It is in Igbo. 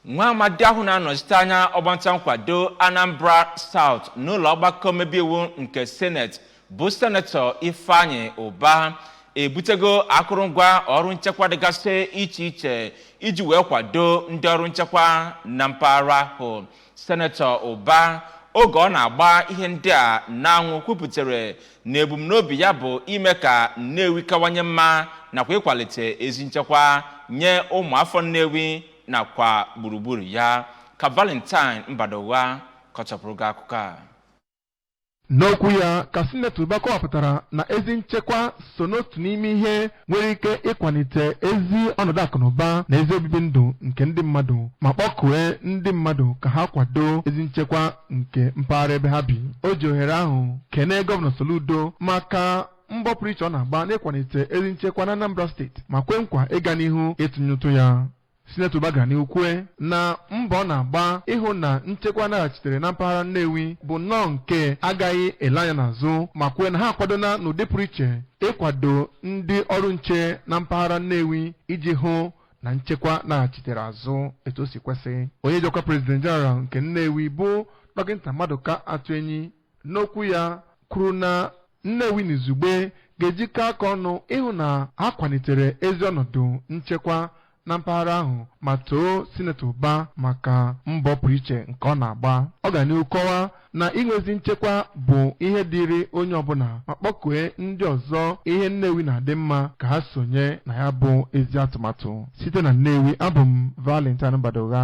nwa amadi ahụ na-anọchite anya ọgbanta nkwado anambra south n'ụlọ ọgbakọ mmebe iwu nke seneti bụ senetọ ifeanyị ụba ebutego akụrụngwa ọrụ nchekwa dịgasị iche iche iji wee kwado ndị ọrụ nchekwa na mpaghara ahụ senetọ ụba oge ọ na-agba ihe ndị a n'anwụ kwupụtara na ebumnobi ya bụ ime ka nnewi kawanye mma nakwa ịkwalite ezi nchekwa nye ụmụ afọ nnewi nakwa gburugburu ya ka valentine mbadugha kọchapụrụ gị akụkọ a N'okwu ya ka Sinetọ Ụba kọwapụtara na ezi nchekwa so n'otu n'ime ihe nwere ike ịkwalite ezi ọnọdụ akụnụba na ezi obibi ndụ nke ndị mmadụ ma kpọkue ndị mmadụ ka ha kwado ezi nchekwa nke mpaghara ebe ha bi. O ji ohere ahụ kenee Gọvanọ Soludo maka mbọ pụrụ iche ọ na-agba n'ịkwalite ezi nchekwa n'Anambra steeti ma kwe nkwa ịga n'ihu ịtụnye ụtụ ya. Sinetọ Ụba gara n'ihu kwue na mbọ ọ na-agba ịhụ na nchekwa naghachitere na mpaghara Nnewi bụ nnọọ nke a gaghị ele anya n'azụ ma kwue na ha akwadona n'ụdị pụrụ iche ịkwado ndị ọrụ nche na mpaghara Nnewi iji hụ na nchekwa naghachitere azụ etu o si kwesị. Onye ji ọkwa President General nke Nnewi bụ Dọkịta Maduka Atuenyi n'okwu ya kwuru na Nnewi n'izugbe ga-ejikọ aka ọnụ ịhụ na ha kwalitere ezi ọnọdụ nchekwa na mpaghara ahụ ma too Sinetọ Ụba maka mbọ pụrụ iche nke ọ na-agba. Ọ gara n'ihu kọwaa na inwe ezi nchekwa bụ ihe dịịrị onye ọbụla ma kpọkue ndị ọzọ ihe Nnewi na-adị mma ka ha sonye na ya bụ ezi atụmatụ. Site na Nnewi, abụ m Valentine Mbadugha.